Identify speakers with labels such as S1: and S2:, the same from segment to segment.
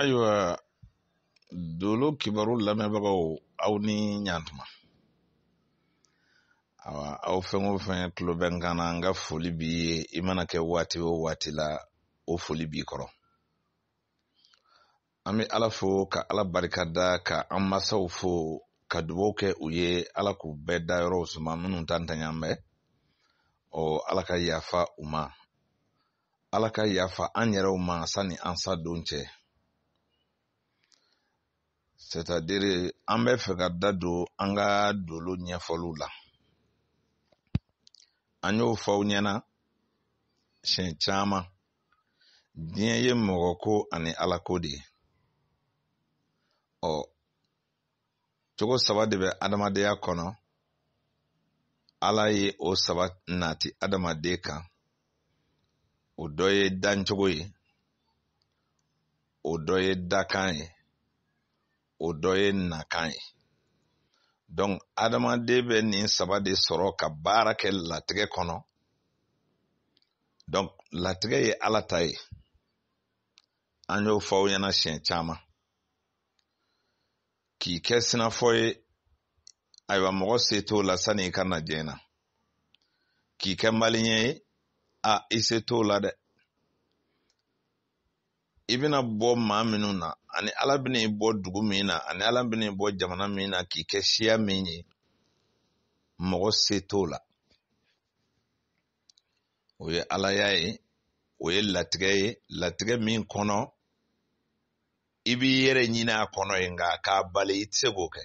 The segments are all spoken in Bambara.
S1: ayiwa dolo kibaru lamɛnbagaw aw ni ɲantuma awa aw fɛn o fɛn tulo bɛ n kan na n ka foli b'i ye i mana kɛ waati o waati la o foli b'i kɔrɔ an bɛ ala fo ka ala barika da ka an masaw fo ka dubaw kɛ u ye ala k'u bɛɛ dayɔrɔw suma minnu ta ntanya bɛ ɔ ala ka yafa u ma ala ka yafa an yɛrɛw ma sani an sa don cɛ c'est-à-dire an bɛ fɛ ka da don an ka dolo ɲɛfɔliw la an y'o fɔ aw ɲɛna siɲɛ caman diɲɛ ye mɔgɔ ko ani ala ko de ye ɔ cogo saba de bɛ adamadenya kɔnɔ ala ye o saba nati adamaden kan o dɔ ye dancogo ye o dɔ ye dakan ye o dɔ ye nakan ye donc adamaden bɛ nin saba de sɔrɔ ka baara kɛ latigɛ kɔnɔ donc latigɛ ye ala ta ye an y'o fɔ aw ɲɛna siɲɛ caman k'i kɛ sinafɔ ye ayiwa mɔgɔ se t'o la sani i ka na diɲɛ na k'i kɛ maliyɛn ye a i se t'o la dɛ i bɛna bɔ maa minnu na ani ala bɛna i bɔ dugu min na ani ala bɛna i bɔ jamana min na k'i kɛ siya min ye mɔgɔ se t'o la o ye alaya ye o ye latigɛ ye latigɛ min kɔnɔ i b'i yɛrɛ ɲini a kɔnɔ ye nka k'a bali i tɛ se k'o kɛ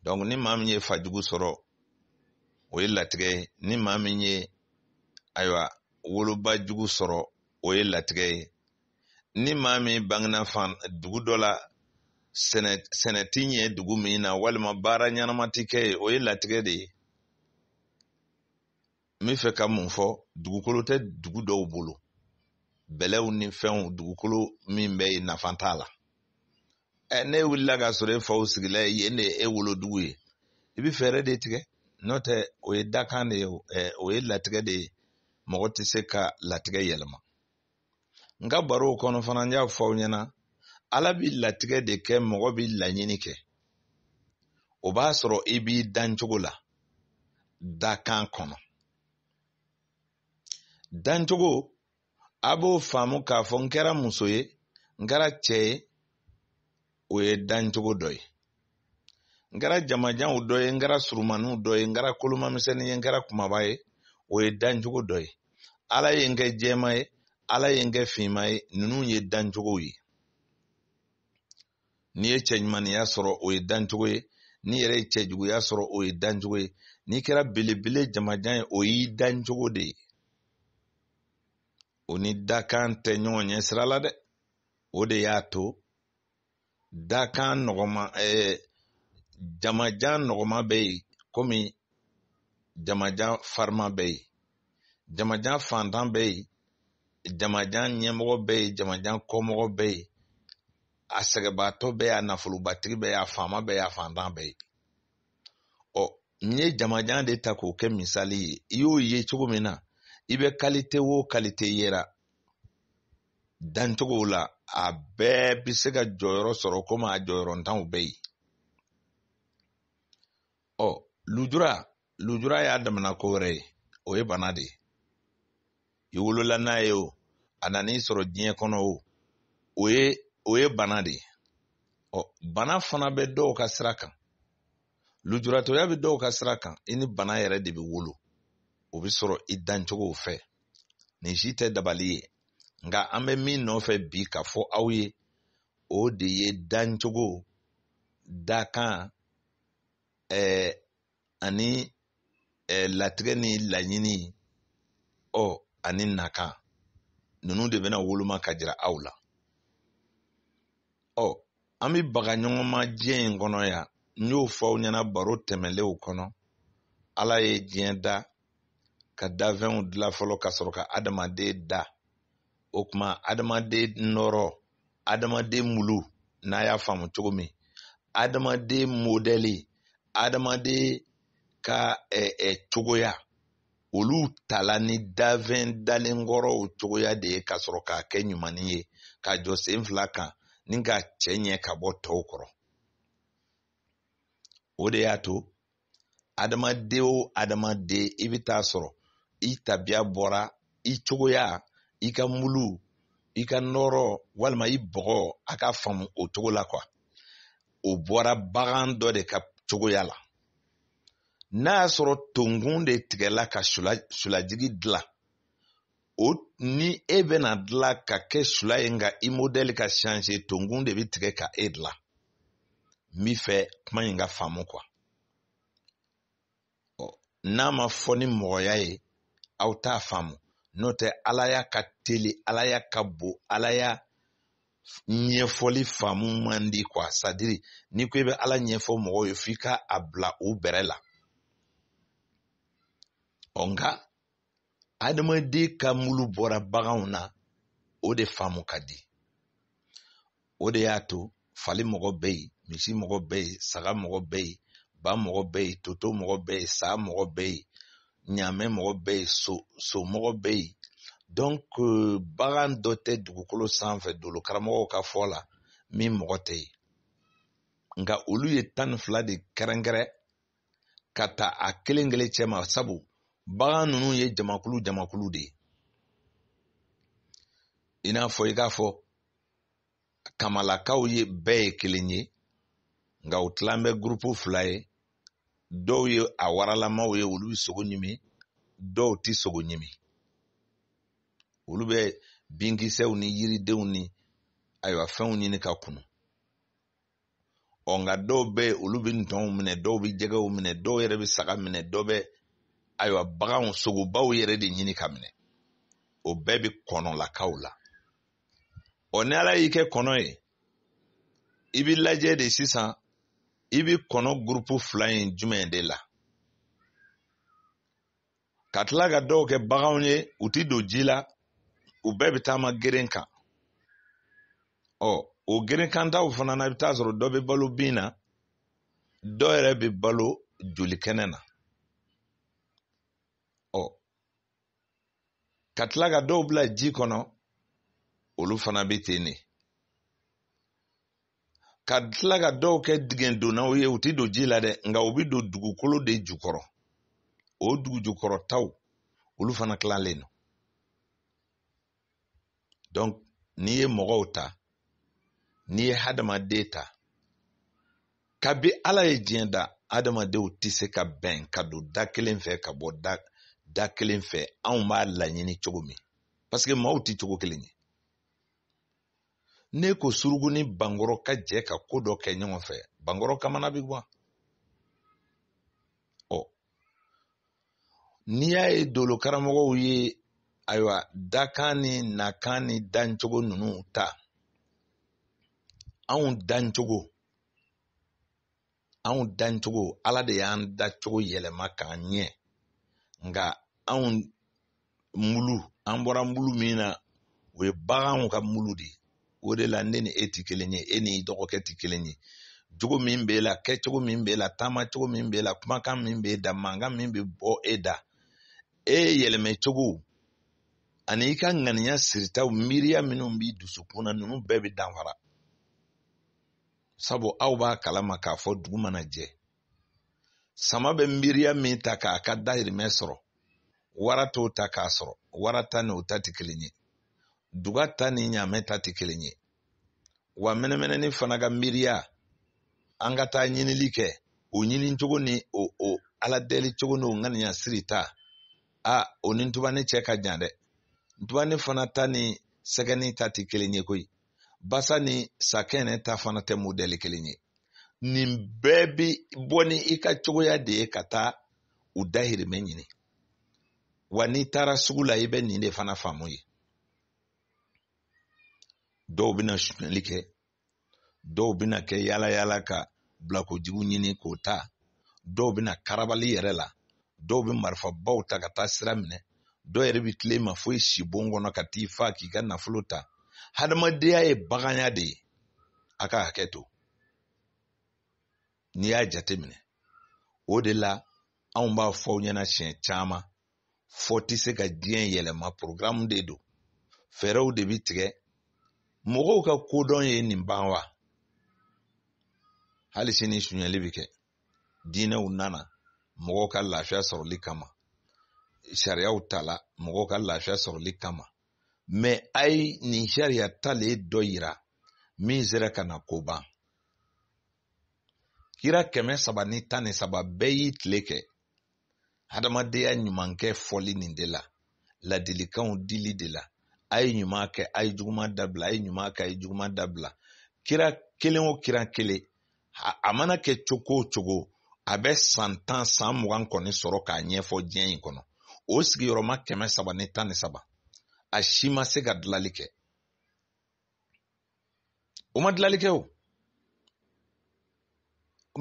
S1: donc ni maa min ye fa jugu sɔrɔ o ye latigɛ ye ni maa min ye ayiwa woloba jugu sɔrɔ o ye latigɛ ye ni maa min bangena fan dugu dɔ la sɛnɛ ti ɲɛ dugu min na walima baara ɲɛnama ti kɛ ye o ye latigɛ de ye n bɛ fɛ ka mun fɔ dugukolo tɛ dugu dɔw bolo bɛlɛw ni fɛnw dugukolo min bɛ yen nafa t'a la ɛ n'e wulila k'a sɔrɔ e faw sigila ye yen de ye e wolodugu ye i bɛ fɛɛrɛ de tigɛ n'o tɛ o ye dakan de ye ɛ o ye latigɛ de ye mɔgɔ tɛ se ka latigɛ yɛlɛma n ka barow kɔnɔ fana n y'a fɔ aw ɲɛna ala bi latigɛ de kɛ mɔgɔ bi laɲini kɛ o b'a sɔrɔ i b'i dancogo la dakan kɔnɔ dancogo a b'o faamu k'a fɔ n kɛra muso ye n kɛra cɛ ye o ye dancogo dɔ ye n kɛra jamajanw dɔ ye n kɛra surumaniw dɔ ye n kɛra kolomamisɛnnin ye n kɛra kumaba ye o ye dancogo dɔ ye ala ye n kɛ jɛma ye ala ye n kɛ finma ye ninnu ye dancogow ye n'i ye cɛɲumaniya sɔrɔ o ye dancogo ye n'i yɛrɛ ye cɛjuguya sɔrɔ o ye dancogo ye n'i kɛra belebele jamajan ye o y'i dancogo de ye o ni dakan tɛ ɲɔgɔn ɲɛ sira la dɛ o de y'a to dakan nɔgɔma ɛɛ eh, jamajan nɔgɔma bɛ yen komi jamajan farima bɛ yen jamajan fantan bɛ yen jamajan ɲɛmɔgɔ bɛ yen jamajan kɔmɔgɔ bɛ yen a sɛgɛnbaatɔ bɛ yen a nafolobatigi bɛ yen a faama bɛ yen a fantan bɛ yen ɔ n ye jamajan de ta k'o kɛ misali ye i y'o ye cogo min na i bɛ kalite wo kalite yera dancogo la a bɛɛ bɛ se ka jɔyɔrɔ sɔrɔ komi a jɔyɔrɔntanw bɛ yen ɔ lujura lujura y'a damana ko wɛrɛ ye o ye bana de ye i wolola n'a ye o a nan'i sɔrɔ diɲɛ kɔnɔ o o ye bana de ye ɔ bana fana bɛ dɔw ka sira kan lujuratɔya bɛ dɔw ka sira kan i ni bana yɛrɛ de bɛ wolo o bɛ sɔrɔ i dancogow fɛ nin si tɛ dabali ye nka an bɛ min nɔfɛ bi ka fɔ aw ye o de ye dancogo dakan ɛɛ ani eh, latigɛ ni laɲini ɔ ani nakan ninnu de bɛna woloma ka jira aw la ɔ an bɛ baga ɲɔgɔn ma diɲɛ in kɔnɔ yan n y'o fɔ aw ɲɛna baro tɛmɛnlenw kɔnɔ ala ye diɲɛ da ka dafɛnw dilan fɔlɔ ka sɔrɔ ka adamaden da o tuma adamaden nɔrɔ adamaden mulu n'a y'a faamu cogo min adamaden modɛli adamaden ka ɛ ɛ cogoya olu tala ni dafɛn dalen kɔrɔw cogoya de ye ka sɔrɔ k'a kɛ ɲumanin ye ka jɔ sen fila kan ni k'a cɛ ɲɛ ka bɔ tɔw kɔrɔ o de y'a to adamaden o adamaden i bɛ taa sɔrɔ i tabiya bɔra i cogoya i ka mulu i ka nɔrɔ walima i bɔgɔ a k'a faamu o cogo la kuwa o bɔra bagan dɔ de ka cogoya la n'a y'a sɔrɔ tonkun de tigɛla ka sulajigi dilan o ni e bɛna dilan ka kɛ sula ye nka i modɛli ka changer tonkun de bɛ tigɛ ka e dilan n b'i fɛ kuma in ka faamu quoi n'a ma fɔ ni mɔgɔya ye aw t'a faamu n'o tɛ alaya ka teli alaya ka bon alaya ɲɛfɔli faamu man di quoi c'est-à-dire n'i ko i bɛ ala ɲɛfɔ mɔgɔw ye f'i ka a bila u bɛrɛ la ɔ nka adamaden ka mulu bɔra baganw na o de faamu ka di o de y'a to fali mɔgɔ bɛ yen misi mɔgɔ bɛ yen saga mɔgɔ bɛ yen ba mɔgɔ bɛ yen toto mɔgɔ bɛ yen sa mɔgɔ bɛ yen ɲaamɛ mɔgɔ bɛ yen so mɔgɔ bɛ yen donc bagan dɔ tɛ dugukolo sanfɛ dolo karamɔgɔw ka fɔ la min mɔgɔ tɛ yen nka olu ye tan ni fila de kɛrɛnkɛrɛn ka ta a kelen kelen cɛma sabu bagan ninnu ye jamakulu jamakulu de ye i n'a fɔ i k'a fɔ kamalakaw ye bɛɛ ye kelen ye nka u tilan bɛ gurupu fila ye dɔw ye a waralamaw ye olu bɛ sogo ɲimi dɔw tɛ sogo ɲimi olu bɛ binkisɛw ni yiridenw ni ayiwa fɛnw ɲini ka kunu ɔ nka dɔw bɛ yen olu bɛ ntɔnw minɛ dɔw bɛ jɛgɛw minɛ dɔw yɛrɛ bɛ saga minɛ dɔw bɛ ayiwa baganw sogobaw yɛrɛ de ɲini ka minɛ o bɛɛ bɛ kɔnɔlakaw la ɔ ni ala y'i kɛ kɔnɔ ye i bɛ lajɛ de sisan i bɛ kɔnɔ gurupu fila in jumɛn de la ka tila ka dɔw kɛ baganw ye u ti don ji la u bɛɛ bɛ taama geren kan ɔ o gerenkantaw fana na i bɛ taa sɔrɔ dɔ bɛ balo bin na dɔ yɛrɛ bɛ balo joli kɛnɛ na ɔ ka tila ka dɔw bila ji kɔnɔ olu fana bɛ ten de ka tila ka dɔw kɛ dingɛdonnaw ye u tɛ don ji la dɛ nka u bɛ don dugukolo de jukɔrɔ o dugujukɔrɔtaw olu fana tilalen don donc n'i ye mɔgɔw ta n'i ye hadamaden ta kabi ala ye diɲɛ da adamadenw tɛ se ka bɛn ka don da kelen fɛ ka bɔ da kelen fɛ anw b'a laɲini cogo min parce que maaw tɛ cogo kelen ye n'e ko surugu ni bankɔrɔ ka jɛ ka ko dɔ kɛ ɲɔgɔn fɛ bankɔrɔ kamana bɛ gan ɔ n'i y'a ye dolo karamɔgɔw ye ayiwa dakan ni nakan ni dancogo ninnu ta anw dancogo anw dancogo ala de y'an dacogo yɛlɛma k'an ɲɛ nka anw mulu an bɔra mulu min na o ye baganw ka mulu de ye o de la ne ni e ti kelen ye e ni dɔgɔkɛ ti kelen ye jogo min b'e la kɛcogo min b'e la taama cogo min b'e la kumakan min b'e da mankan min bɛ bɔ e da e yɛlɛmɛ cogo ani i ka ŋaniya siritaw miiriya minnu b'i dusukun na ninnu bɛɛ bɛ danfara sabu aw b'a kalama k'a fɔ dugu mana jɛ sama bɛ miiriya min ta k'a ka dahirimɛ sɔrɔ wara t'o ta k'a sɔrɔ wara ta ni o ta tɛ kelen ye duga ta ni ɲaamɛ ta tɛ kelen ye wa mɛnɛmɛnɛni fana ka miiriya an ka taa ɲinili kɛ o ɲini cogo ni o o ala deli cogo n'o ŋaniya siri ta a o ni ntubani cɛ ka jan dɛ ntubani fana ta ni sɛgɛni ta tɛ kelen ye koyi basa ni sakɛnɛ ta fana tɛ modɛli kelen ye nin bɛɛ bi bɔ ni i ka cogoya de ye ka taa u dahirimɛ ɲini wa n'i taara sugu la i bɛ nin de fana faamu yen dɔw bɛna sunyali kɛ dɔw bɛna kɛ yaala yaala ka bilakojugu ɲini k'o ta dɔw bɛ na karabali yɛrɛ la dɔw bɛ marifabaw ta ka taa sira minɛ dɔw yɛrɛ bɛ t'ile ma fo i sibon kɔnɔ ka t'i fa k'i ka nafolo ta hadamadenya ye baganya de ye a ka hakɛ to n'i y'a jateminɛ o de la anw b'a fɔ aw ɲɛna siɲɛ caman fɔ tɛ se ka diɲɛ yɛlɛma porogramu de don fɛɛrɛw de bɛ tigɛ mɔgɔw ka kodɔn ye nin ban wa hali sini sunyali bɛ kɛ diinɛw nana mɔgɔw ka lafiya sɔrɔli kama sariyaw tala mɔgɔw ka lafiya sɔrɔli kama mɛ a ye nin sariya talen dɔ yira min sera ka na ko ban kira kɛmɛ saba ni tan ni saba bɛɛ y'i tile kɛ hadamadenya ɲuman kɛ fɔli nin de la ladilikanw dili de la a ye ɲuman kɛ a ye juguman dabila a ye ɲuman kɛ a ye juguman dabila kira kelen o kira kelen a mana kɛ cogo o cogo a bɛ san tan san mugan kɔni sɔrɔ k'a ɲɛfɔ diɲɛ in kɔnɔ o sigiyɔrɔma kɛmɛ saba ni tan ni saba a si ma se ka dilali kɛ u ma dilali kɛ o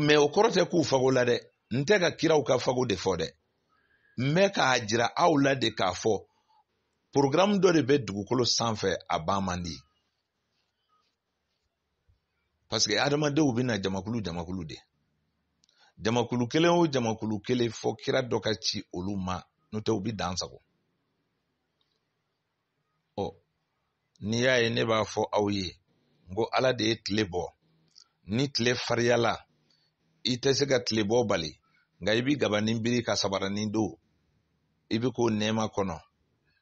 S1: mɛ o kɔrɔ tɛ k'u fago la dɛ n tɛ ka kiraw ka fago de fɔ dɛ n bɛ k'a jira aw la de k'a fɔ programme dɔ de bɛ dugukolo sanfɛ a ban man di parce que adamadenw bɛ na jamakulu jamakulu de jamakulu kelen o jamakulu kelen fɔ kira dɔ ka ci olu ma n'o tɛ u bɛ dansagon ɔ n'i y'a ye ne b'a fɔ aw ye n ko ala de ye tile bɔ ni tile fariyala i tɛ se ka tile bɔ bali nka i bɛ gabanin biri ka sabaranin don i bɛ k'o nɛɛma kɔnɔ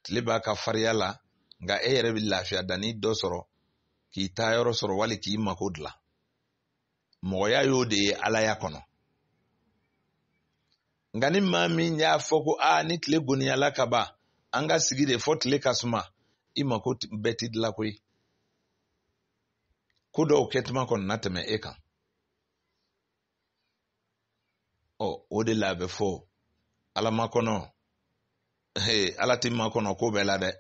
S1: tile b'a ka fariya la nka e yɛrɛ bɛ lafiya danni dɔ sɔrɔ k'i taa yɔrɔ sɔrɔ wali k'i mako dilan mɔgɔya y'o de ye alaya kɔnɔ nka ni maa min y'a fɔ ko aa ni tile goniyala ka ban an ka sigi de fɔ tile ka suma i mako bɛɛ ti dilan koyi ko dɔw kɛtuma kɔni na tɛmɛ e kan ɔ o de la a bɛ fɔ ala makɔnɔ ala ti makɔnɔ ko bɛɛ la dɛ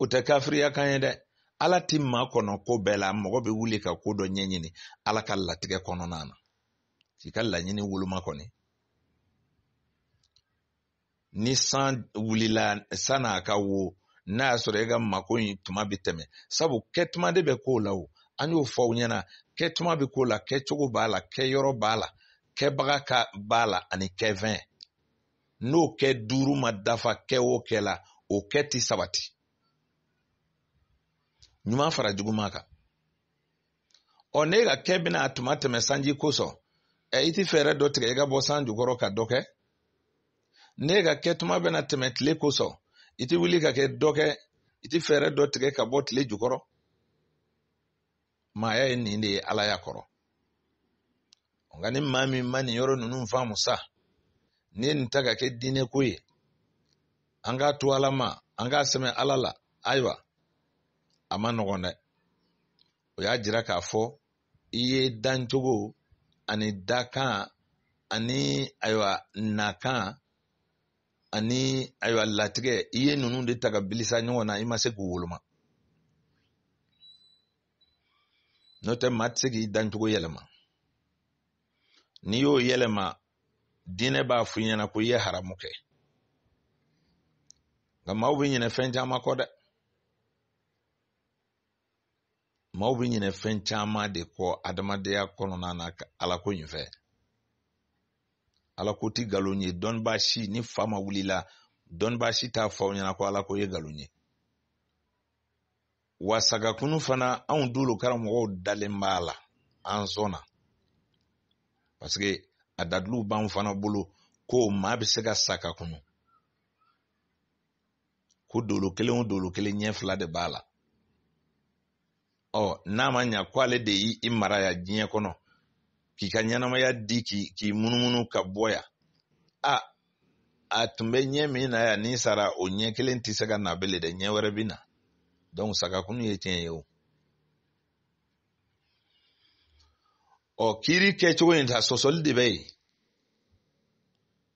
S1: o tɛ kafiriya kan ye dɛ ala ti makɔnɔ ko bɛɛ la mɔgɔ bɛ wuli ka ko dɔ ɲɛɲini ala ka latigɛ kɔnɔna na k'i ka laɲini woloma kɔni ni san wulila sann'a ka wo n'a y'a sɔrɔ e ka mako in tuma bɛ tɛmɛ sabu kɛtuma de bɛ ko la o an y'o fɔ aw ɲɛna kɛtuma bɛ ko la kɛcogo b'a la kɛyɔrɔ b'a la kɛbaga b'a la ani kɛfɛn n'o kɛ duuru ma dafa kɛ o kɛ la o kɛ ti sabati ɲuman fara juguman kan ɔ ne ka kɛ bɛna a tuma tɛmɛ sanji kosɔn ɛ i ti fɛɛrɛ dɔ tigɛ i ka bɔ san jukɔrɔ ka dɔ kɛ ne ka kɛ tuma bɛna tɛmɛ tile kosɔn i ti wuli ka kɛ dɔ kɛ i ti fɛɛrɛ dɔ tigɛ ka bɔ tile jukɔrɔ maaya ye nin de ye alaya kɔrɔ nka ni maa min ma nin yɔrɔ ninnu faamu sa n'i ye nin ta ka kɛ diinɛ ko ye an k'a to ala ma an k'a sɛmɛ ala la ayiwa a man nɔgɔn dɛ o y'a jira k'a fɔ i ye dancogo ani dakan ani ayiwa nakan ani ayiwa latigɛ i ye ninnu de ta ka bilisa ɲɔgɔn na i ma se k'u woloma n'o tɛ maa tɛ se k'i dancogo yɛlɛma n'i y'o yɛlɛma diinɛ b'a f'i ɲɛna ko i ye haramu kɛ nka maaw bɛ ɲinɛ fɛn caman kɔ dɛ maaw bɛ ɲinɛ fɛn caman de kɔ adamadenya kɔnɔna na ala ko in fɛ ala ko ti nkalon ye dɔnnibaa si ni fa ma wul'i la dɔnnibaa si t'a fɔ aw ɲɛna ko ala ko ye nkalon ye wa sa ka kunu fana anw dolo karamɔgɔw dalen b'a la an sɔnna parce que a daliluw b'an fana bolo ko maa bɛ se ka sa ka kunu ko dolo kelen o dolo kelen ɲɛ fila de b'a la ɔ n'a ma ɲa ko ale de y'i i mara yan diɲɛ kɔnɔ k'i ka ɲɛnamaya di k'i k'i munumunu ka bɔ yan a a tun bɛ ɲɛ min na yan n'i sara o ɲɛ kelen tɛ se ka na bele dɛ ɲɛ wɛrɛ bɛ na donc sagakunu ye tiɲɛ ye o ɔ kiiri kɛcogo in ta sɔsɔli de bɛ yen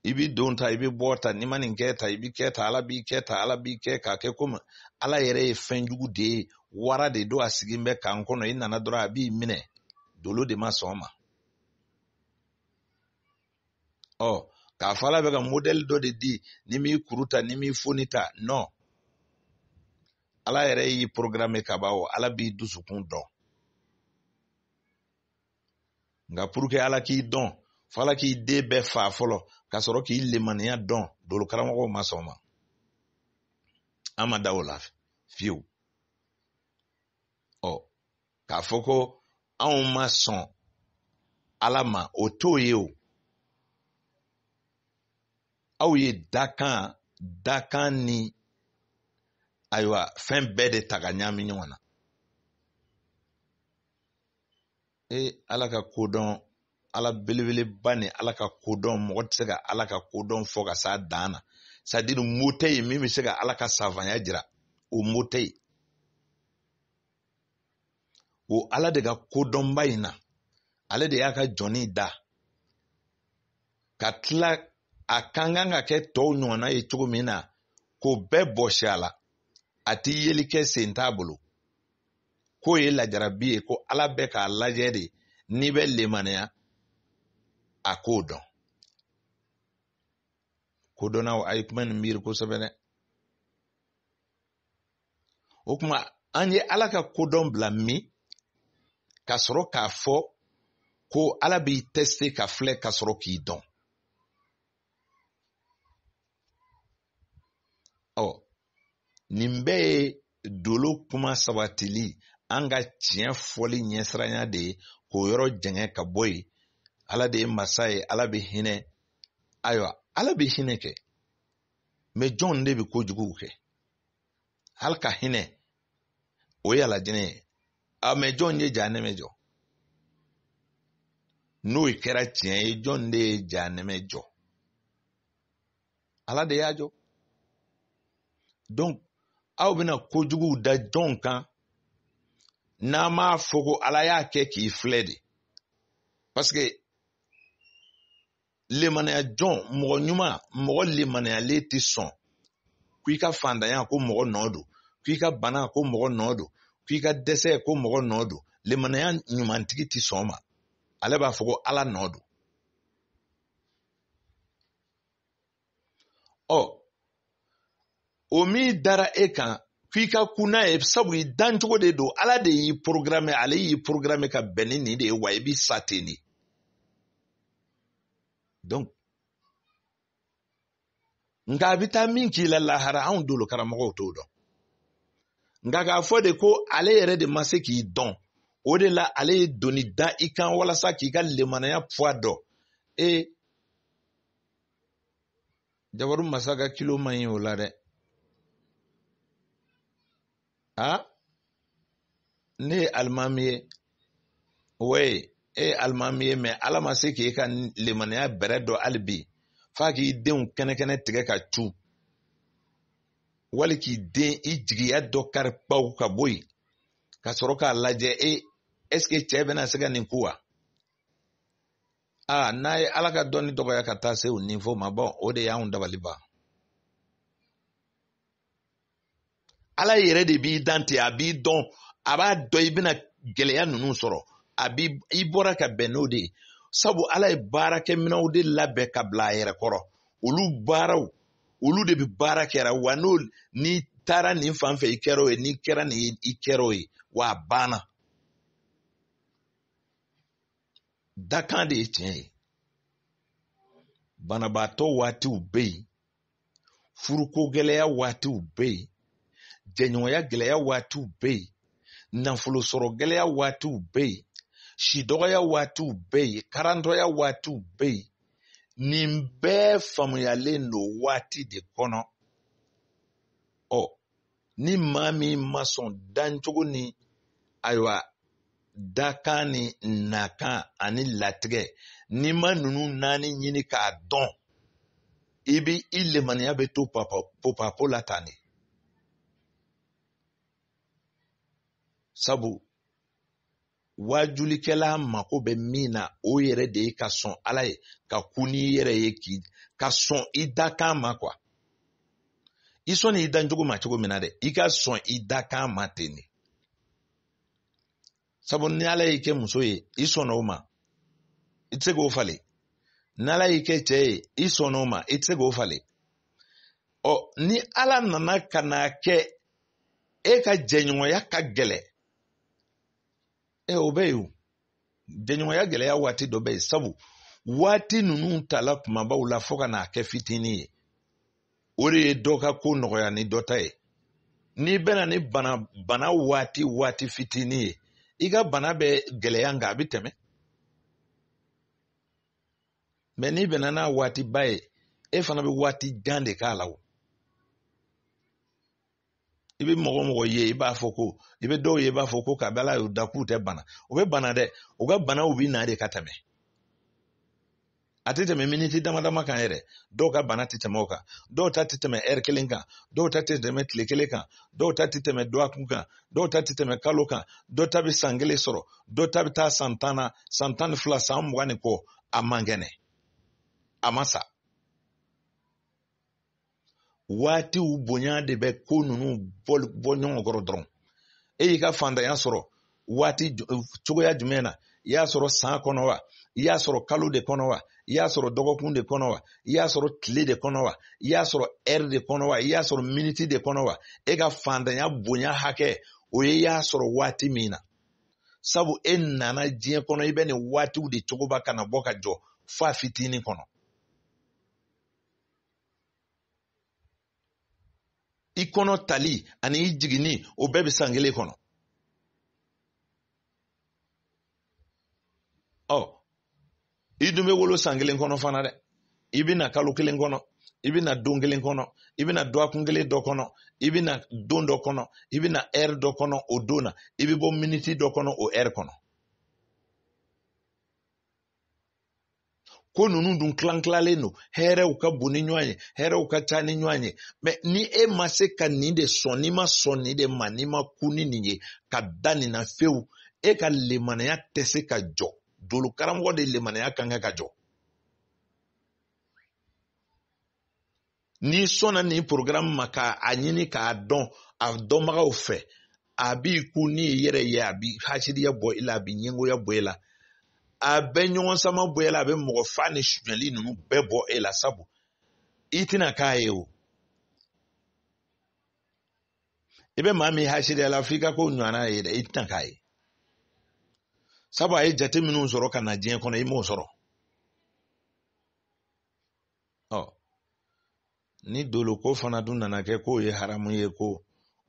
S1: i bi don ta i bi bɔ ta n'i ma nin kɛ ta i bi kɛ ta ala b'i kɛ ta ala b'i kɛ k'a kɛ komi ala yɛrɛ ye fɛn jugu de ye wara de don a sigilen bɛ k'an kɔnɔ i nana dɔrɔn a b'i minɛ dolo de ma sɔn ma ɔ k'a fɔ ala bɛ ka modɛli dɔ de di n'i m'i kuru ta n'i m'i foni ta nɔn ala yɛrɛ y'i porogaramu ka ban o ala b'i dusukun dɔn nka puruke ala k'i dɔn fo ala k'i den bɛɛ faa fɔlɔ ka sɔrɔ k'i lemaniya dɔn dolo karamɔgɔw ma sɔn ma an ma da o la fiyewu ɔ k'a fɔ ko anw ma sɔn ala ma o t'o ye o aw ye dakan dakan ni ayiwa fɛn bɛɛ de ta ka ɲagami ɲɔgɔn na ee ala ka kodɔn ala belebeleba ni ala ka kodɔn mɔgɔ tɛ se ka ala ka kodɔn fɔ ka s'a dan na sadiri mot tɛ yen min bɛ se ka ala ka savanya jira o mot tɛ yen o ala de ka kodɔnba in na ale de y'a ka jɔn in da ka tila a ka kan ka kɛ tɔw ɲɔgɔnna ye cogo min na k'o bɛɛ bɔsi a la a tɛ yeli kɛ sen t'a bolo k'o ye lajarabi ye ko ala bɛ k'a lajɛ de n'i bɛ lemaniya a k'o dɔn kodɔnnaw a ye kuma nin miiri kosɛbɛ dɛ o kuma an ye ala ka kodɔn bila min ka sɔrɔ k'a fɔ ko ala b'i tɛsite ka filɛ ka sɔrɔ k'i dɔn ɔ nin bɛɛ ye dolo kuma sabatili an ka tiɲɛ fɔli ɲɛsiranya de ye k'o yɔrɔ jɛngɛ ka bɔ yen ala de ye masa ye ala bɛ hinɛ ayiwa ala bɛ hinɛ kɛ mɛ jɔn de bɛ kojugu kɛ ale ka hinɛ o ye alajinɛ ye a mɛ jɔn ye jahanɛmɛ jɔ n'o kɛra tiɲɛ ye jɔn de ye jahanɛmɛ jɔ ala de y'a jɔ donc aw bɛna kojugu da jɔn kan n'an m'a fɔ ko ala y'a kɛ k'i filɛ de parce que lemanaya jɔn mɔgɔ ɲuman mɔgɔ lemanayalen tɛ sɔn ko i ka fantanya ko mɔgɔ nɔ don ko i ka bana ko mɔgɔ nɔ don ko i ka dɛsɛ ko mɔgɔ nɔ don lemanaya ɲumantigi tɛ sɔn ma ale b'a fɔ ko ala nɔ don ɔ o min dara e kan k'i ka ku n'a ye sabu i dancogo de don ala de y'i programmer ale y'i programmer ka bɛn ni nin de ye wa i bɛ sa ten de donc nka a bɛ taa min k'i la lahara anw dolo karamɔgɔw t'o dɔn nka k'a fɔ de ko ale yɛrɛ de ma se k'i dɔn o de la ale ye doni da i kan walasa k'i ka lemanaya poids dɔn e jabaru masa ka kilo man ɲi o la dɛ a ne ye alimami ye ouais e ye alimami ye mais ala ma se k'e ka lemaniya bɛrɛ dɔn hali bi f'a k'i denw kɛnɛkɛnɛ tigɛ ka cu wali k'i den i jigiya dɔ kari kpaw ka bɔ yen ka sɔrɔ k'a lajɛ e est-ce que cɛ bɛna se ka nin ku wa aa n'a ye ala ka dɔnni dɔgɔya ka taa se o niveau ma bon o de y'anw dabali ban ala yɛrɛ de b'i dan ten a b'i dɔn a b'a dɔn i bɛna gɛlɛya ninnu sɔrɔ a bi i bɔra ka bɛn n'o de ye sabu ala ye baarakɛminɛw de labɛn ka bila a yɛrɛ kɔrɔ olu baaraw olu de bɛ baara kɛra wa n'o n'i taara nin fan fɛ i kɛra o ye n'i kɛra nin i kɛra o ye wa a banna dakan de ye tiɲɛ ye banabaatɔ waatiw bɛ yen furuko gɛlɛya waatiw bɛ yen jɛɲɔgɔnya gɛlɛya waatiw bɛ yen nafolo sɔrɔ gɛlɛya waatiw bɛ yen si dɔgɔya waatiw bɛ yen karantɔya waatiw bɛ yen nin bɛɛ faamuyalen don waati de kɔnɔ ɔ ni maa min ma sɔn dancogo ni ayiwa dakan ni nakan ani latigɛ n'i ma ninnu naani ɲini k'a dɔn i bɛ i lemaniya bɛ to popapo la tan de sabu waajulikɛla mako bɛ min na o yɛrɛ de ye ka sɔn ala ye ka ku n'i yɛrɛ ye ka sɔn i dakan ma quoi i sɔnni i dancogo ma cogo min na dɛ i ka sɔn i dakan ma ten de sabu ni ala y'i kɛ muso ye i sɔnna o ma i tɛ se k'o falen ni ala y'i kɛ cɛ ye i sɔnna o ma i tɛ se k'o falen ɔ ni ala nana ka n'a kɛ e ka jɛɲɔgɔnya ka gɛlɛ ɛ o bɛ yen o jɛɲɔgɔnya gɛlɛya waati dɔ bɛ yen sabu waati ninnu tala kumabaw la fo ka n'a kɛ fitinin ye o de ye dɔ ka ko nɔgɔya ni dɔ ta ye n'i bɛnna ni bana bana waati waati fitinin ye i ka bana bɛ gɛlɛya nka a bɛ tɛmɛ mɛ n'i bɛnna n'a waatiba ye e fana bɛ waati jan de k'a la o i bɛ mɔgɔ mɔgɔ ye i b'a fɔ ko i bɛ dɔw ye i b'a fɔ ko kabi ala y'u da k'u tɛ bana u bɛ bana dɛ u ka banaw bɛ na de ka tɛmɛ a tɛ tɛmɛ miniti dama dama kan yɛrɛ dɔw ka bana tɛ tɛmɛ o kan dɔw ta tɛ tɛmɛ ɛri kelen kan dɔw ta tɛ tɛmɛ tile kelen kan dɔw ta tɛ tɛmɛ dɔgɔkun kan dɔw ta tɛ tɛmɛ kalo kan dɔw ta bɛ san kelen sɔrɔ dɔw ta bɛ taa san tan na san tan ni fila san mugan ni kɔ a man kɛnɛ a ma sa waatiw bonya de bɛ ko ninnu bɔ ɲɔgɔn kɔrɔ dɔrɔn e y'i ka fantanya sɔrɔ waati cogoya jumɛn na i y'a sɔrɔ san kɔnɔ wa i y'a sɔrɔ kalo de kɔnɔ wa i y'a sɔrɔ dɔgɔkun de kɔnɔ wa i y'a sɔrɔ tile de kɔnɔ wa i y'a sɔrɔ ɛri de kɔnɔ wa i y'a sɔrɔ miniti de kɔnɔ wa e ka fantanya bonya hakɛ o ye i y'a sɔrɔ waati min na sabu e nana diɲɛ kɔnɔ i bɛ nin waatiw de cogoba ka na bɔ ka jɔ f'a fitinin kɔnɔ i kɔnɔ tali ani i jiginni o bɛɛ bɛ san kelen kɔnɔ ɔ i dun bɛ wolo san kelen kɔnɔ fana dɛ i bɛ na kalo kelen kɔnɔ i bɛ na don kelen kɔnɔ i bɛ na dɔgɔkun kelen dɔ kɔnɔ i bɛ na don dɔ kɔnɔ i bɛ na ɛri dɔ kɔnɔ o don na i bɛ bɔ miniti dɔ kɔnɔ o ɛri kɔnɔ ko ninnu dun tilan tilalen don hɛrɛw ka bon ni ɲɔgɔn ye hɛrɛw ka ca ni ɲɔgɔn ye mɛ ni e ma se ka nin de sɔn n'i ma sɔn nin de ma n'i ma ku ni nin ye ka da nin na fewu e ka lemanaya tɛ se ka jɔ dolo karamɔgɔ de lemanaya kan ka jɔ n'i sɔnna nin porogaramu ma ka a ɲini k'a dɔn a dɔnbagaw fɛ a b'i ku n'i yɛrɛ ye a bi hasiriya bɔ i la a bi ɲɛngoya bɔ i la a bɛ ɲɔgɔn sama bɔ i la a bɛ mɔgɔ faa ni sunyali ninnu bɛɛ bɔ e la sabu i tɛna k'a ye o i bɛ maa min hasiriya la f'i ka k'o ɲɔgɔnna ye dɛ i tɛna k'a ye sabu a ye jate minnu sɔrɔ ka na diɲɛ kɔnɔ i m'o sɔrɔ ɔ ni doloko fana dun nana kɛ k'o ye haramu ye ko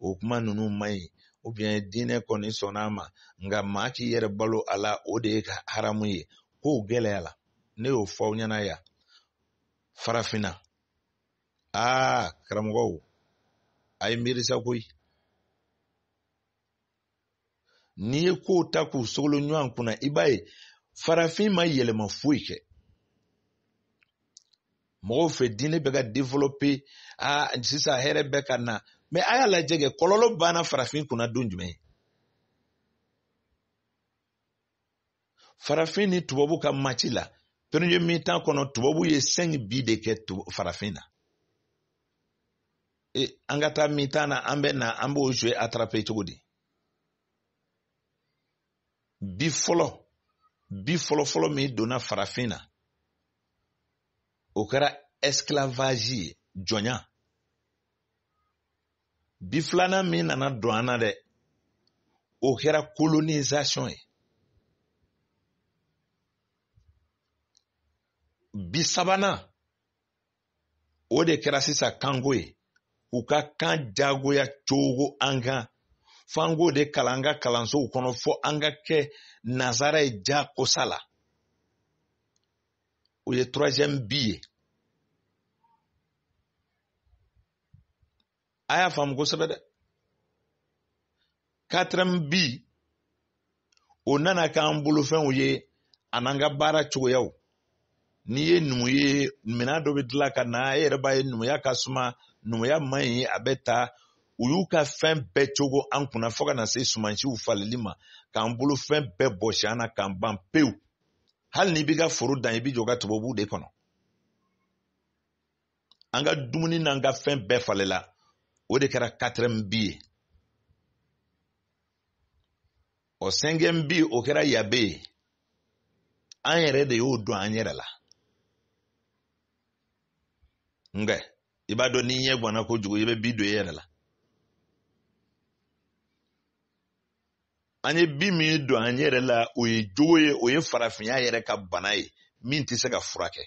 S1: o kuma ninnu man ɲi ubiyɛn diinɛ kɔni sɔnna a ma nka maa k'i yɛrɛ balo a la o de ye haramu ye k'o gɛlɛyala ne y'o fɔ aw ɲɛna yan farafinna aa karamɔgɔw a ye miiri sa koyi n'i ye kow ta k'u sogolo ɲɔgɔn kunna i b'a ye farafin ma yɛlɛma foyi kɛ mɔgɔw fɛ diinɛ bɛ ka développer aa sisan hɛrɛ bɛ ka na mais a y'a lajɛ kɛ kɔlɔlɔ banna farafin kunna don jumɛn farafin ni tubabu ka match la premier mi-temps kɔnɔ tubabu ye cinq bi de kɛ farafin na e, an ka taa mi-temps na an bɛ na an b'o jouer attraper cogo di bi fɔlɔ bi fɔlɔ fɔlɔ min donna farafin na o kɛra esclavage ye jɔnya bi filanan min nana don an na dɛ o kɛra colonisation ye bi sabanan o de kɛra sisan kanko ye u ka kan jagoya cogo an kan f'an k'o de kalan an ka kalansow kɔnɔ fɔ an ka kɛ nazara ye jakosa la o ye troisième bi ye a y'a faamu kosɛbɛ dɛ quatrième bi o nana k'an bolofɛnw ye an'an ka baara cogoyaw n'i ye numu ye minɛn dɔ bɛ dilan ka na e yɛrɛ b'a ye numuya ka suma numuya man ɲi a bɛ taa u y'u ka fɛn bɛɛ cogo an kunna fo ka na se sumansiw falili ma k'an bolo fɛn bɛɛ bɔsi an na k'an ban pewu hali n'i b'i ka foro dan i b'i jɔ ka tubabuw de kɔnɔ an ka dumuni n'an ka fɛn bɛɛ falela o de kɛra quatrième bi ye ɔ cinquième bi o kɛra yabe ye an yɛrɛ de y'o don an yɛrɛ la nka i b'a dɔn n'i ɲɛ gwanna kojugu i bɛ bi don i yɛrɛ la an ye bi min don an yɛrɛ la o ye jogo ye o ye farafinya yɛrɛ ka bana ye min tɛ se ka furakɛ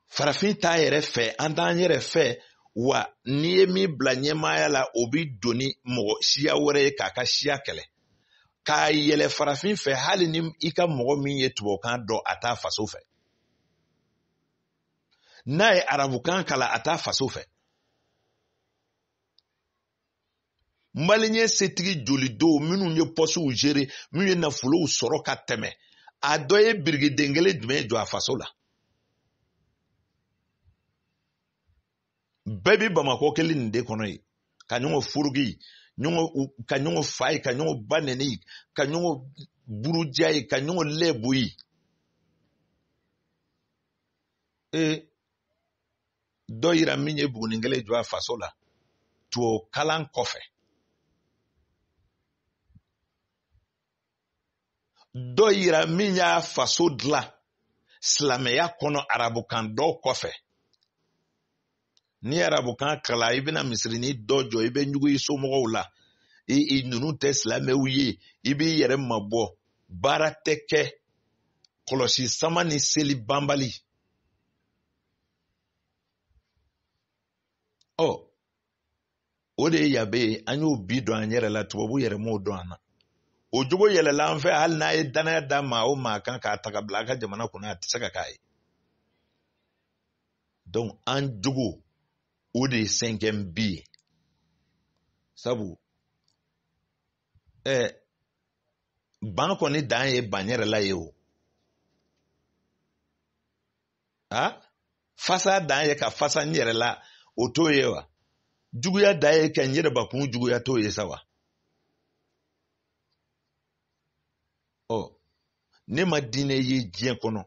S1: farafin t'a yɛrɛ fɛ an t'an yɛrɛ fɛ wa n'i ye min bila ɲɛmaaya la o bi don ni mɔgɔ siya wɛrɛ ye k'a ka siya kɛlɛ k'a yɛlɛ farafin fɛ hali ni i ka mɔgɔ min ye tubabukan dɔn a t'a faso fɛ n'a ye arabukan kalan a t'a faso fɛ maliyɛn setigi jolidow minnu ye pɔsiw gérer minnu ye nafolow sɔrɔ ka tɛmɛ a dɔ ye birikiden kelen jumɛn jɔ a faso la bɛɛ bi bamakɔ kelen nin de kɔnɔ ye ka ɲɔgɔn furuki ka ɲɔgɔn fa ye ka ɲɔgɔn ba nɛni ka ɲɔgɔn buruja ye ka ɲɔgɔn lɛbo ye ee dɔ yira min ye bugunin kelen jɔ a faso la tubabu kalan kɔfɛ dɔ yira min y'a faso dilan silamɛya kɔnɔ arabukan dɔn kɔfɛ ni arabukan kalan i bɛna misirinin dɔ jɔ i bɛ ɲugu i somɔgɔw la i i ninnu tɛ silamɛw ye i b'i yɛrɛ mabɔ baara tɛ kɛ kɔlɔsi sama ni seli banbali ɔ o de ye yabe ye an y'o bi don an yɛrɛ la tubabu yɛrɛ m'o don an na o jogo yɛlɛla an fɛ hali n'a ye danaya da maa o maa kan k'a ta ka bila a ka jamana kunna a tɛ se ka k'a ye donc an jogo o de ye cinquième bi ye sabu ɛɛ eh, ban kɔni dan ye ban yɛrɛ la ye o a fasa dan ye ka fasa n yɛrɛ la o t'o ye wa juguya dan ye ka n yɛrɛ bakun juguya t'o ye sa wa ɔ ne ma diinɛ ye diɲɛ kɔnɔ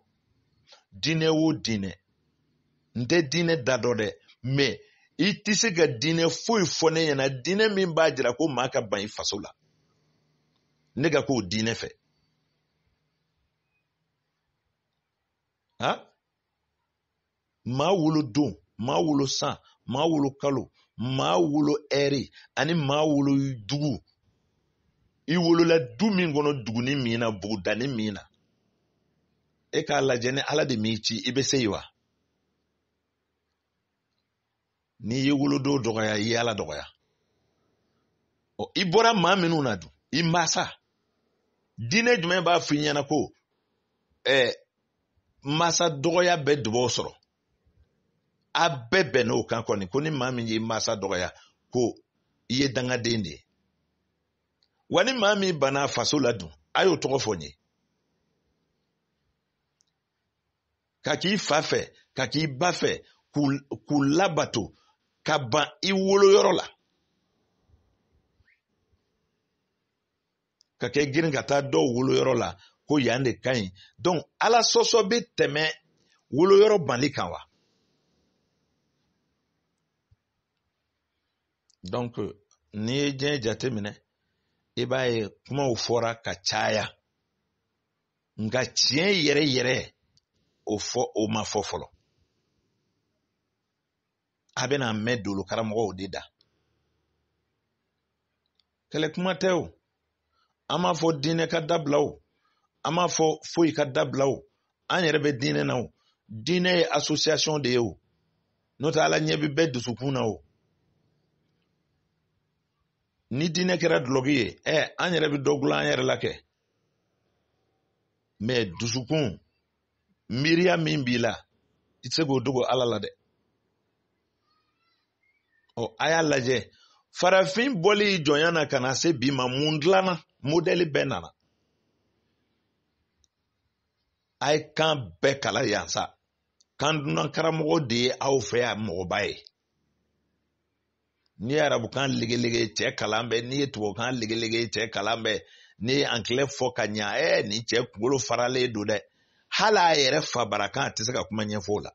S1: diinɛ o diinɛ n tɛ diinɛ da dɔn dɛ mais i tɛ se ka diinɛ foyi fɔ ne ɲɛna diinɛ min b'a jira ko maa ka ban i faso la ne ka k'o diinɛ fɛ ha maa wolo don maa wolo san maa wolo kalo maa wolo ɛri ani maa wolo dugu i wolola du min kɔnɔ duguni min na bugudani min na e k'a lajɛ ni ala de m'i ci i bɛ se yen wa n'i ye wolodon dɔgɔya i y'ala dɔgɔya ɔ i bɔra maa minnu na dun i masa diinɛ jumɛn b'a f'i ɲɛna ko ɛɛ masa dɔgɔya bɛ dubaw sɔrɔ a bɛɛ bɛnn'o kan kɔni ko ni maa min y'i masa dɔgɔya ko i ye dangaden de ye wa ni maa min banna faso la dun a y'o tɔgɔ fɔ n ye ka k'i fa fɛ ka k'i ba fɛ k'u labato ka ban i woloyɔrɔ la ka kɛ girin ka taa dɔw woloyɔrɔ la ko yan de ka ɲi donc ala sɔsɔ bɛ tɛmɛ woloyɔrɔ banli kan wa donc n'i ye diɲɛ jateminɛ i b'a ye kumaw fɔra ka caya nka tiɲɛ yɛrɛ yɛrɛ o fɔ o ma fɔ fɔlɔ a bɛna mɛn dolo karamɔgɔw de da kɛlɛ kuma tɛ o an m'a fɔ diinɛ ka dabila o an m'a fɔ foyi ka dabila o an yɛrɛ bɛ diinɛ na o diinɛ ye association de ye o n'o tɛ ala ɲɛ bɛ bɛɛ dusukun na o ni diinɛ kɛra dulɔki ye ɛ an yɛrɛ bɛ dɔ dilan an yɛrɛ la kɛ mais dusukun miiriya min b'i la i tɛ se k'o dogo ala la dɛ ɔ a y'a lajɛ farafin bɔli jɔnya na ka na se bi ma mun dilanna modɛli bɛɛ nana a ye kan bɛɛ kalan yan sa kan dunan karamɔgɔ de ye aw fɛ yan mɔgɔba ye n'i ye arabukan legelege cɛ kalan bɛ n'i ye tubabukan legelege cɛ kalan bɛ n'i ye angilɛ fɔ ka ɲa ɛ nin cɛ kunkolo faralen don dɛ hali a yɛrɛ fabarakan a tɛ se ka kuma ɲɛfɔ o la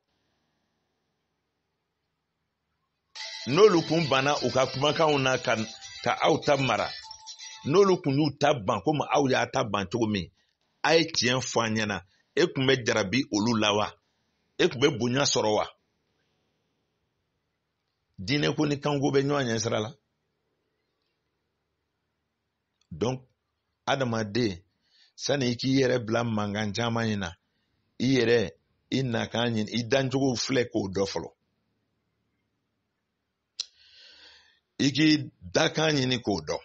S1: n'olu kun banna u ka kumakanw na ka aw ta mara n'olu kun y'u ta ban komi aw y'a ta ban cogo min a ye tiɲɛ fɔ an ɲɛna e kun bɛ jarabi olu la wa e kun bɛ bonya sɔrɔ wa diinɛ ko ni kanko bɛ ɲɔgɔn ɲɛ sira la donc adamaden sani i k'i yɛrɛ bila mankan caman in na i yɛrɛ i nakan ɲini i dancogo filɛ k'o dɔn fɔlɔ i k'i dakan ɲini k'o dɔn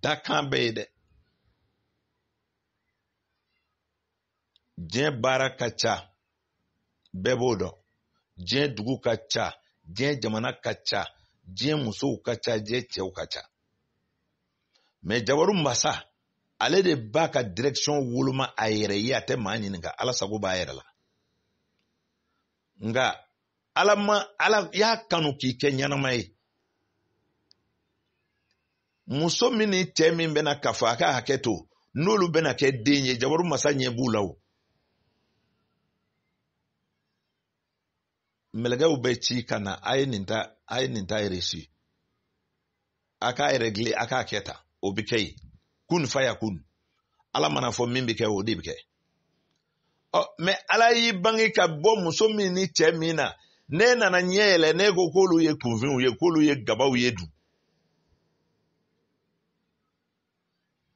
S1: dakan bɛ yen dɛ diɲɛ baara ka ca bɛɛ b'o dɔn diɲɛ dugu ka ca diɲɛ jamana ka ca diɲɛ musow ka ca diɲɛ cɛw ka ca mais jabaru masa ale de b'a ka direction woloma a yɛrɛ ye a tɛ maa ɲininka ala sago b'a yɛrɛ la nka ala ma ala y'a kanu k'i kɛ ɲɛnama ye muso min ni cɛ min bɛna kafo a ka hakɛ to n'olu bɛna kɛ den ye jabaru masa ɲɛ b'u la o mɛlɛkɛw bɛ ci ka na a ye nin ta a ye nin ta reçu a k'a régler a k'a kɛ ta o bɛ kɛ yen kun fayakun ala mana a fɔ min bɛ kɛ o de bɛ kɛ ɔ mais ala y'i bange ka bɔ muso min ni cɛ min na n'e nana ɲɛ yɛlɛ n'e ko k'olu ye kunfinw ye k'olu ye gabaw ye dun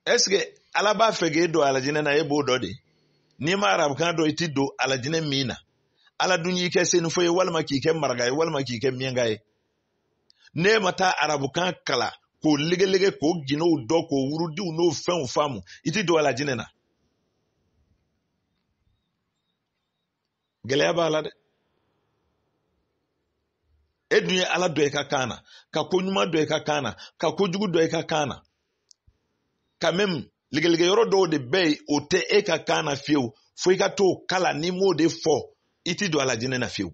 S1: est ce que ala b'a fɛ k'e don alajinɛ na e b'o dɔ de n'i ma arabukan dɔ i ti don alajinɛ min na ala dun y'i kɛ senufo ye walima k'i kɛ maraka ye walima k'i kɛ miɲɛnka ye n'e ma taa arabukan kala k'o legelege k'o gindow dɔ k'o wurudiw n'o fɛnw faamu i ti don alajinɛ na gɛlɛya b'a la dɛ e dun ye ala dɔ i ka kan na ka ko ɲuman dɔ i ka kan na ka ko jugu dɔ i ka kan na quand même legelege yɔrɔ dɔw de bɛ yen o tɛ e ka kan na fiyewu fo i ka t'o kala n'i m'o de fɔ i ti don alajinɛ na fiyewu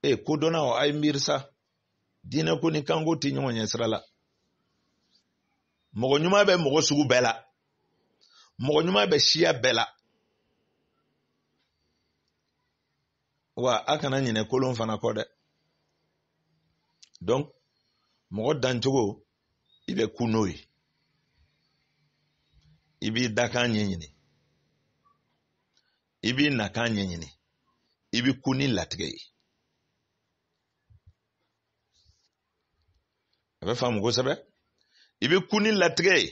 S1: e kodɔnnaw a ye miiri sa diinɛ ko ni kanko tɛ ɲɔgɔn ɲɛ sira la mɔgɔ ɲuman bɛ mɔgɔ sugu bɛɛ la mɔgɔ ɲuman bɛ siya bɛɛ la wa a kana ɲinɛ kolon fana kɔ dɛ donc mɔgɔ dancogo i bɛ ku n'o ye i b'i dakan ɲɛɲini i b'i nakan ɲɛɲini i bɛ ku ni latigɛ ye a bɛ faamu kosɛbɛ i bɛ ku ni latigɛ ye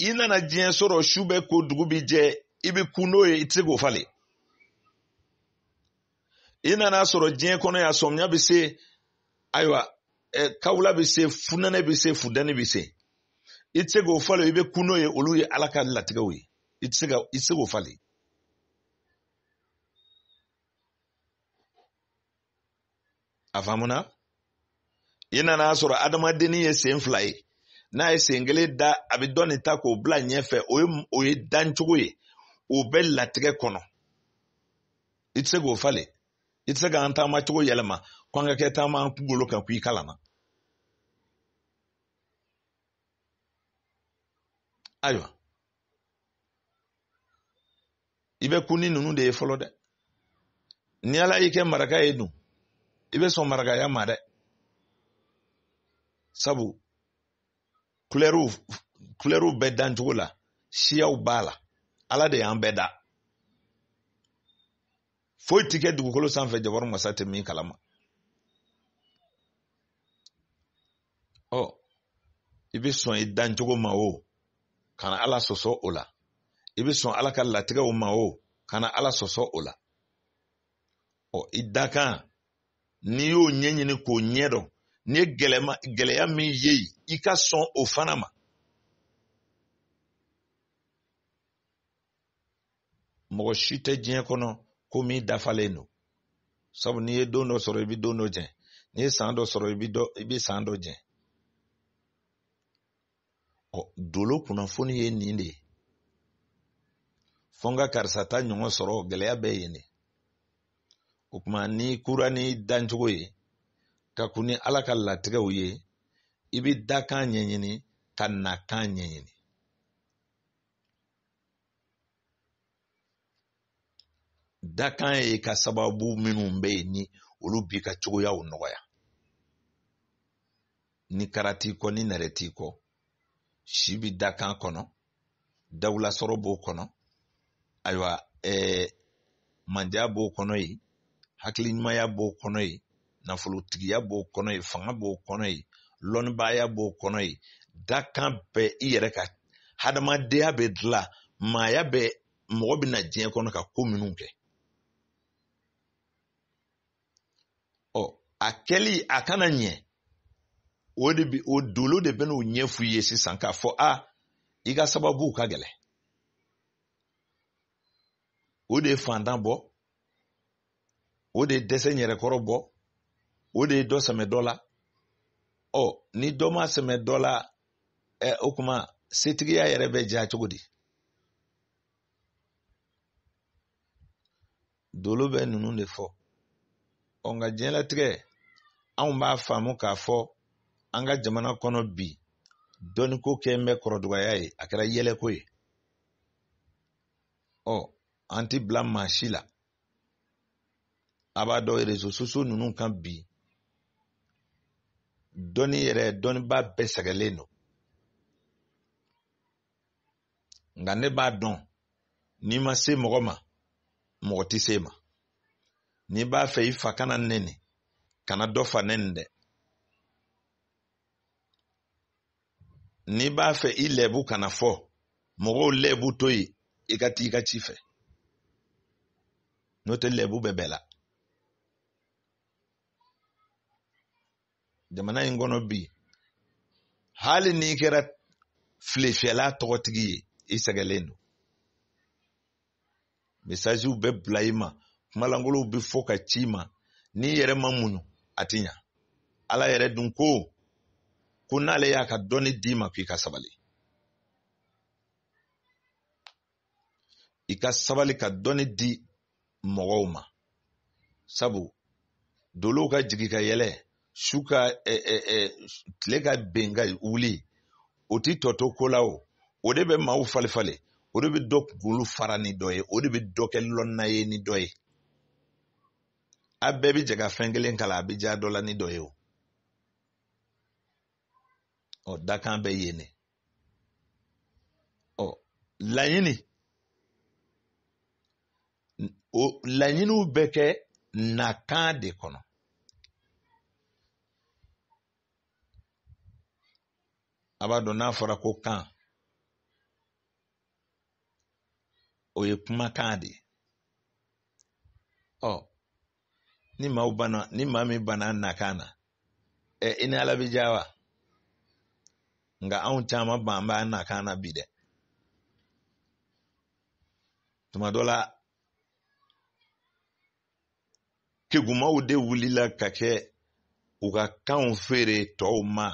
S1: i nana diɲɛ sɔrɔ su bɛ ko dugu bi jɛ i bɛ ku n'o ye i tɛ se k'o falen i nana sɔrɔ diɲɛ kɔnɔ yan sɔmiya bɛ se ayiwa kawula bɛ se funɛnɛ bɛ se funteni bɛ se i tɛ se k'o falen i bɛ kun n'o ye olu ye ala ka latigɛw ye i tɛ se k'o falen a faamuna i nana sɔrɔ adamadennin ye sen fila ye n'a ye sen kelen da a bɛ dɔ nin ta k'o bila ɲɛfɛ o ye dancogo ye o bɛ latigɛ kɔnɔ i tɛ se k'o falen i tɛ se k'an taamacogo yɛlɛma ko an ka kɛ taama an kunkolo kan k'i kalanna ayiwa i bɛ kun ni ninnu de ye fɔlɔ dɛ ni ala y'i kɛ maraka ye dun i bɛ sɔn marakaya ma dɛ sabu kulɛriw kulɛriw bɛ dancogo la siyaw b'a la ala de y'an bɛɛ da foyi ti kɛ dugukolo sanfɛ jabaru masa tɛ min kalama ɔ i bɛ sɔn i dancogo ma o kana ala sɔsɔ o la i bɛ sɔn ala ka latigɛw ma o kana ala sɔsɔ o la ɔ i dakan n'i y'o ɲɛɲini k'o ɲɛdɔn n'i ye gɛlɛya min ye i ka sɔn o fana ma mɔgɔ si tɛ diɲɛ kɔnɔ ko min dafalen don sabu n'i ye don dɔ sɔrɔ i bɛ don dɔ jɛn n'i ye san dɔ sɔrɔ i bɛ dɔ i bɛ san dɔ jɛn ɔ dolo kunnafoni ye nin de ye fɔ n ka karisa ta ɲɔgɔn sɔrɔ gɛlɛya bɛ yen de o tuma n'i kunna n'i dancogo ye ka kun ni ala ka latigɛw ye i bɛ dakan ɲɛɲini ka nakan ɲɛɲini dakan ye ka sababu minnu bɛ yen ni olu b'i ka cogoyaw nɔgɔya ni kara t'i kɔ ni nɛrɛ t'i kɔ si bi dakan kɔnɔ dawulasɔrɔ b'o kɔnɔ ayiwa ɛɛ mandiya b'o kɔnɔ yen hakili ɲumanya b'o kɔnɔ yen nafolotigiya b'o kɔnɔ yen fanga b'o kɔnɔ yen lɔnnibaaya b'o kɔnɔ yen dakan bɛ i yɛrɛ ka hadamadenya bɛ dilan maaya bɛ mɔgɔ bɛ na diɲɛ kɔnɔ ka ko minnu kɛ ɔ a kɛli a kana ɲɛ o de bi o dolo de bɛ n'o ɲɛfɔ i ye sisan k'a fɔ a i ka sababu ka gɛlɛn o de ye fantan bɔ o de ye dɛsɛ yɛrɛkɔrɔ bɔ o de ye dɔ sɛmɛ dɔ la ɔ ni dɔ ma sɛmɛ dɔ la ɛ o kuma setigiya yɛrɛ bɛ diya cogo di dolo bɛ ninnu de fɔ ɔ nka diɲɛlatigɛ anw b'a faamu k'a fɔ an ka jamana kɔnɔ bi dɔnniko kɛlen bɛ kɔrɔdugaya ye a kɛra yɛlɛko ye ɔ an ti bila maa si la a b'a dɔn réseaux sociaux ninnu kan bi dɔnni yɛrɛ dɔnniba bɛɛ sɛgɛnlen don nka ne b'a dɔn n'i ma se mɔgɔ ma mɔgɔ tɛ s'i ma n'i b'a fɛ i fa kana nɛni kana dɔ fa nɛni dɛ n'i b'a fɛ i lɛbu kana fɔ mɔgɔw lɛbu to yen i ka taa i ka ci fɛ n'o tɛ lɛbu bɛ bɛɛ la jamana in kɔnɔ bi hali n'i kɛra filefiyɛla tɔgɔtigi ye i sɛgɛlen don mesaziw bɛ bila i ma kumalankolonw bɛ fɔ ka ci i ma n'i yɛrɛ ma muɲu a ti ɲa ala yɛrɛ dun ko ko n'ale y'a ka dɔnni d'i ma k'i ka sabali i ka sabali ka dɔnni di mɔgɔw ma sabu dolow ka jigin ka yɛlɛn su ka ɛ ɛ ɛ tile ka ben ka wuli o ti tɔ to ko la o o de bɛ maaw falenfalen o de bɛ dɔ kunkolo fara ni dɔ ye o de bɛ dɔ kɛ lɔnna ye ni dɔ ye a bɛɛ bɛ jɛ ka fɛn kelen kalan a bɛ diya dɔ la ni dɔ ye o ɔ dakan bɛ yen ne ɔ laɲini o laɲiniw bɛ kɛ nakan de kɔnɔ a b'a dɔn n'a fɔra ko kan o ye kumakan de ye ɔ ni maa ni maa min banna nakan na ɛ i ni ala bɛ diya wa nka anw caman ban b'a nakan na bi dɛ tuma dɔ la kegunmanw de wulila ka kɛ u ka kanw feere tɔw ma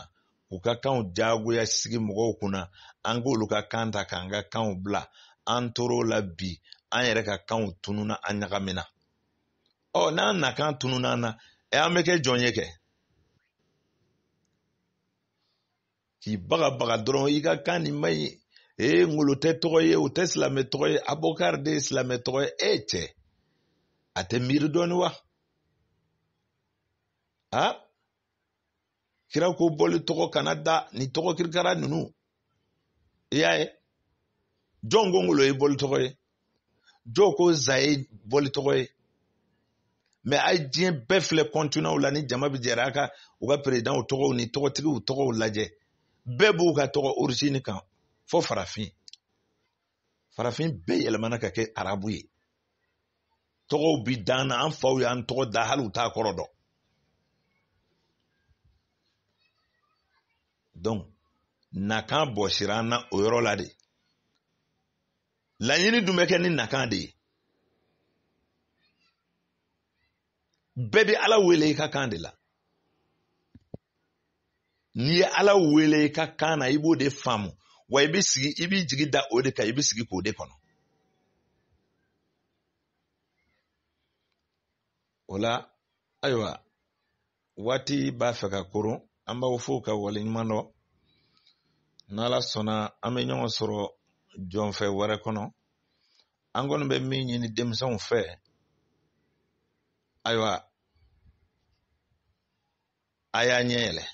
S1: u ka kanw jagoya sigi mɔgɔw kunna an k'olu ka kan ta k'an ka kanw bila an tor'o la bi an yɛrɛ ka kanw tununa an ɲagamina ɔ n'an nakan tununa an na ɛ an bɛ kɛ jɔn ye kɛ k'i bagabaga dɔrɔn i ka kan nin man ɲi ee ngolo tɛ tɔgɔ ye o tɛ silamɛ tɔgɔ ye abokari de ye silamɛ tɔgɔ ye e cɛ a tɛ miiri dɔɔni wa a kira ko boli tɔgɔ kana da ni tɔgɔ kirikara ninnu i y'a ye jɔn ko ngolo ye boli tɔgɔ ye jɔn ko zan ye boli tɔgɔ ye mɛ a ye diɲɛ bɛɛ filɛ kɔntinanw la ni jama bɛɛ jɛra a ka u ka perezidanw tɔgɔw ni tɔgɔtigiw tɔgɔw lajɛ bɛɛ b'u ka tɔgɔ orizini kan fo farafin farafin bɛɛ yɛlɛmana ka kɛ arabu ye tɔgɔw bi d'an na an faw y'an tɔgɔ da hali u t'a kɔrɔ dɔn donc nakan bɔsira an na o yɔrɔ la de laɲini dun bɛ kɛ ni nakan de ye bɛɛ bɛ ala wele i ka kan de la n'i ye ala wele i ka kan na i b'o de faamu wa i bɛ sigi i b'i jigi da o de kan i bɛ sigi k'o de kɔnɔ o la ayiwa waati b'a fɛ ka koron an b'aw fo ka waleɲuman dɔn n'ala sɔnna an bɛ ɲɔgɔn sɔrɔ jɔnfɛ wɛrɛ kɔnɔ an kɔni bɛ min ɲini denmisɛnw fɛ ayiwa a y'a ɲɛ yɛlɛ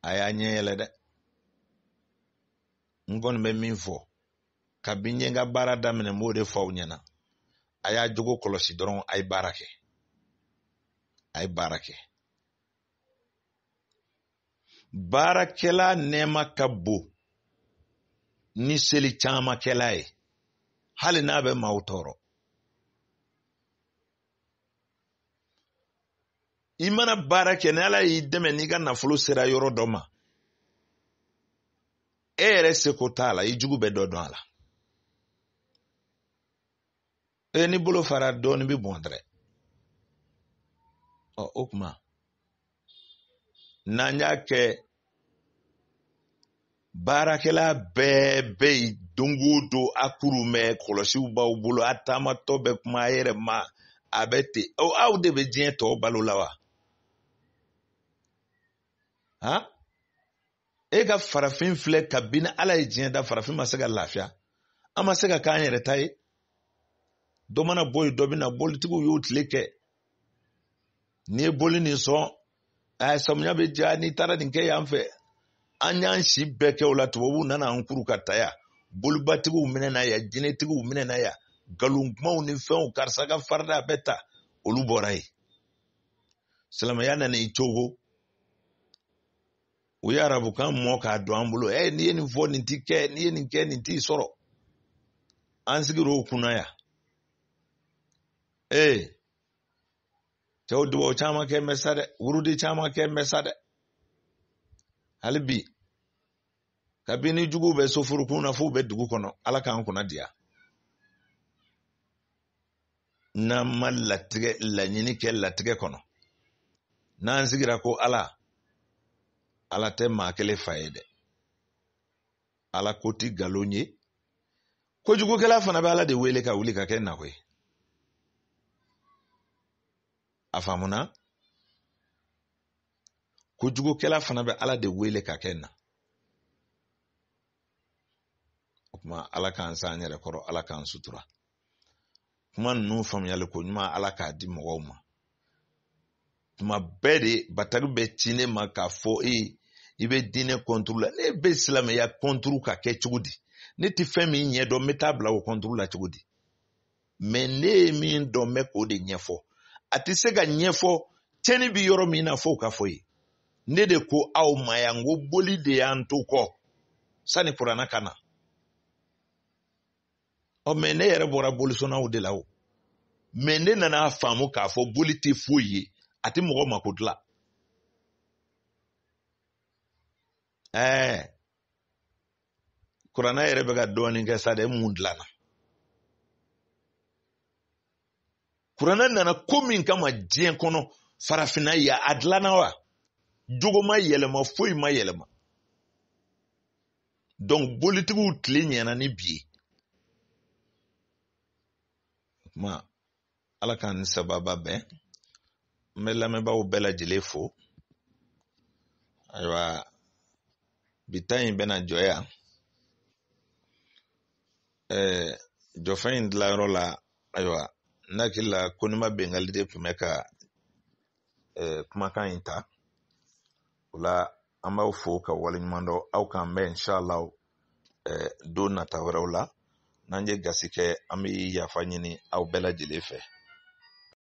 S1: a y'a ɲɛ yɛlɛ dɛ n kɔni bɛ min fɔ kabini n ye n ka baara daminɛ n b'o de fɔ aw ɲɛna a y'a jogo kɔlɔsi dɔrɔn a ye baara kɛ a ye baara kɛ baarakɛla nɛɛma ka bon ni seli caman kɛla ye hali n'a bɛ maaw tɔɔrɔ i mana baara kɛ ni ala y'i dɛmɛ n'i ka nafolo sera yɔrɔ dɔ ma e yɛrɛ seko t'a la i jugu bɛ dɔ dun a la e n'i bolo fara dɔɔnin bɛ bɔn dɛrɛ ɔ o kuma n'an y'a kɛ baarakɛla bɛɛ bɛ yen don o don a kuru mɛ kɔlɔsiw b'aw bolo a taamatɔ bɛ kuma a yɛrɛ ma a bɛ ten aw de bɛ diɲɛ tɔw balo la wa han e ka farafin filɛ kabini ala ye diɲɛ da farafin ma se ka lafiya an ma se ka k'an yɛrɛ ta ye dɔ mana bɔ yen dɔ bɛ na bolitigiw y'u tile kɛ n'i ye boli nin sɔn ɛɛ samiya bɛ diya n'i taara nin kɛ yan fɛ an y'an si bɛɛ kɛ o la tubabuw nana an kuru ka ta yan bolibatigiw minɛna yan jinɛtigiw minɛna yan nkalon kumaw ni fɛnw karisa ka farida bɛ ta olu bɔra yen silamɛya nana i cogo u ye arabukan mɔ k'a don an bolo ɛ n'i ye nin fɔ nin ti kɛ n'i ye nin kɛ nin t'i sɔrɔ an sigir'o kunna yan ee cɛw dubaw caman kɛ mɛ sa dɛ wurudi caman kɛ mɛ sa dɛ hali bi kabini juguw bɛ soforokun na f'u bɛ dugu kɔnɔ ala k'an kunna diya n'an ma latigɛ laɲini kɛ latigɛ kɔnɔ n'an sigira ko ala ala tɛ maa kelen fa ye dɛ ala ko ti nkalon ye kojugukɛla fana bɛ ala de wele ka wuli ka kɛ n na koyi a faamuna kojugukɛla fana bɛ ala de wele ka kɛ n na o kuma ala k'an s'an yɛrɛ kɔrɔ ala k'an sutura kuma ninnu faamuyali ko ɲuman ala k'a di mɔgɔw ma tuma bɛɛ de bataki bɛ ci ne ma k'a fɔ e i bɛ diinɛ kɔnturu la ne bɛ silamɛya kɔnturu ka kɛ cogo di ne tɛ fɛn min ɲɛdɔn n bɛ taa bila o kɔnturu la cogo di mɛ ne ye min dɔn n bɛ k'o de ɲɛfɔ a tɛ se k'a ɲɛfɔ cɛn in bɛ yɔrɔ min na fo ka fɔ ye ne de ko aw ma yan n ko boli de y'an to kɔ sani kuranɛ ka na ɔ mɛ ne yɛrɛ bɔra bolisɔnnaw de la o mɛ ne nan'a faamu k'a fɔ boli tɛ foyi ye a tɛ mɔgɔ mako dilan ɛɛ kuranɛ yɛrɛ bɛ ka dɔɔnin kɛ sa dɛ mun dilanna kuranɛ nana ko min kama diɲɛ kɔnɔ farafinna yan a dilanna wa jogo ma yɛlɛma foyi ma yɛlɛma donc bolitigiw tile ɲɛna ni bi ye kuma ala k'an ni sababa bɛn n bɛ lamɛnbaaw bɛɛ lajɛlen fo ayiwa bi ta in bɛna jɔ yan ɛɛ jofɛn in dilanyɔrɔ la ayiwa n hakili la konima bɛngali de tun bɛ ka ɛɛ kumakan in ta o la an b'aw fo ka waleɲuman dɔn aw k'an bɛn inshallah eh, don nata wɛrɛw la n'an ye gasi kɛ an bɛ yafa ɲini aw bɛɛ lajɛlen fɛ